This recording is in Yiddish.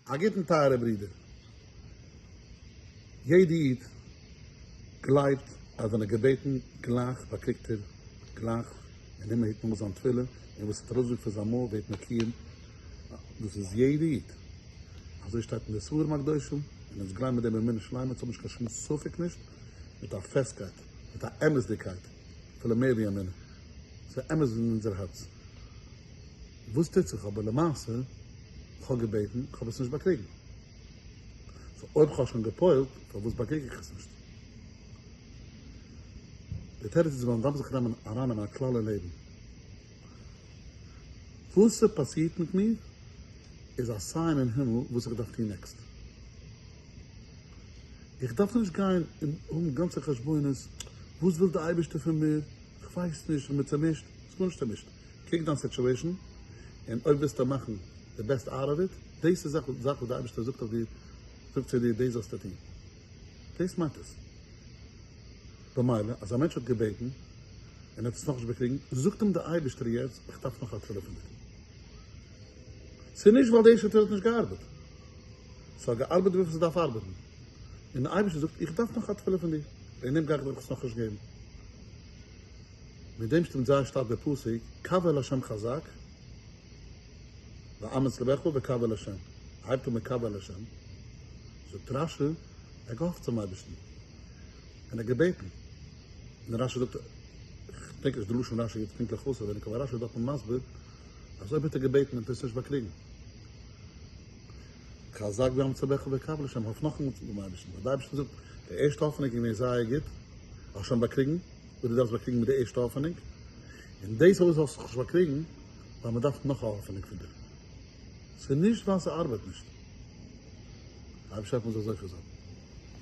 א גוטן טייערע ברידער. יעדע איד גלייבט אז ווען ער געבעטן גלייך באקריגט ער גלייך און הימל היט נאר זיין תפילה און וואס ער האט ארויסגעזאגט פון זיין מויל ווערט מקויים דאס איז יעדע איד אזוי שטייט אין די ספרים הקדושים און אונז גלייבן מיט דעם אמונה שלימה אונז האבן נישט קיין שום ספק נישט מיט א פעסטקייט מיט א אמת'דיגקייט אפילו מער ווי אמונה ס'איז אמת אין אונזער הארץ וואס טוט זיך אבער למעשה. כ'האב געבעטן, כ'האב עס נישט באקריגן. סאו אויב כ'האב שוין גע'פועל'ט, פארוואס באקריג איך עס נישט? די תירוץ איז ווייל מ'דארף זיך נעמען אריין אין א כלל אין לעבן. וואס ס'פאסירט מיט מיר איז א סיין אין הימל וואס איך דארף טון נעקסט. איך דארף נישט גיין און האבן גאנצע חשבונות, וואס וויל די אייבערשטער פון מיר? כ'ווייס נישט, כ'בין צומישט. ס'גארנישט צומישט. קוק דיין סיטועשן און אויב ווילסטו מאכן די בעסט אוט אוו איט, דאס איז זאך וואס די אייבערשטער זאגט אויף דיר, זאגט צו דיר דאס זאלסטו טון. דאס מיינט עס. במילא אז א מענטש האט געבעטן און ער האט עס נאכנישט באקריגן, זאגט אים די אייבערשטער יעצט איך דארף נאך א תפלה פון דיר. ס'איז נישט ווייל די שטות האט נישט געארבעט. ס'האט געארבעט וויפיל ס'דארף ארבעטן. און די אייבערשטער זאגט איך דארף נאך א תפלה פון דיר. וועגן דעם גיי איך דיר עס נאכנישט געבן. מיט דעם שטימט זייער שטארק דער פסוק קוה אל השם חזק ואמץ לבך וקוה אל השם, ער הייבט אן מיט קוה אל השם, זאגט רש י, ער האט געהאפט צום אייבערשטן, און ער האט געבעטן, און רש י זאגט, איך דענק נישט די לשון רש י יעצט פונקטליך אויסעווייניג, אבער רש י איז דארטן מסביר אז אויב האט ער געבעטן און ער האט עס נישט באקריגן, כזב גם צוועך וקב לשם, האף נאכאמאל צו דעם אייבערשטן, ווייל דער אייבערשטער זאגט, די ערשטע האפענונג איז געווען זייער גוט, האסט שוין באקריגן וואס דו דארפסט באקריגן מיט די ערשטע האפענונג, און דאס אויך זאלסטו נישט באקריגן ווייל מען דארף נאך א האפענונג פון דיר, ס'איז נישט ווייל ס'ארבייט נישט, אייביג שרייבט מען זיך אזוי פאר זיי.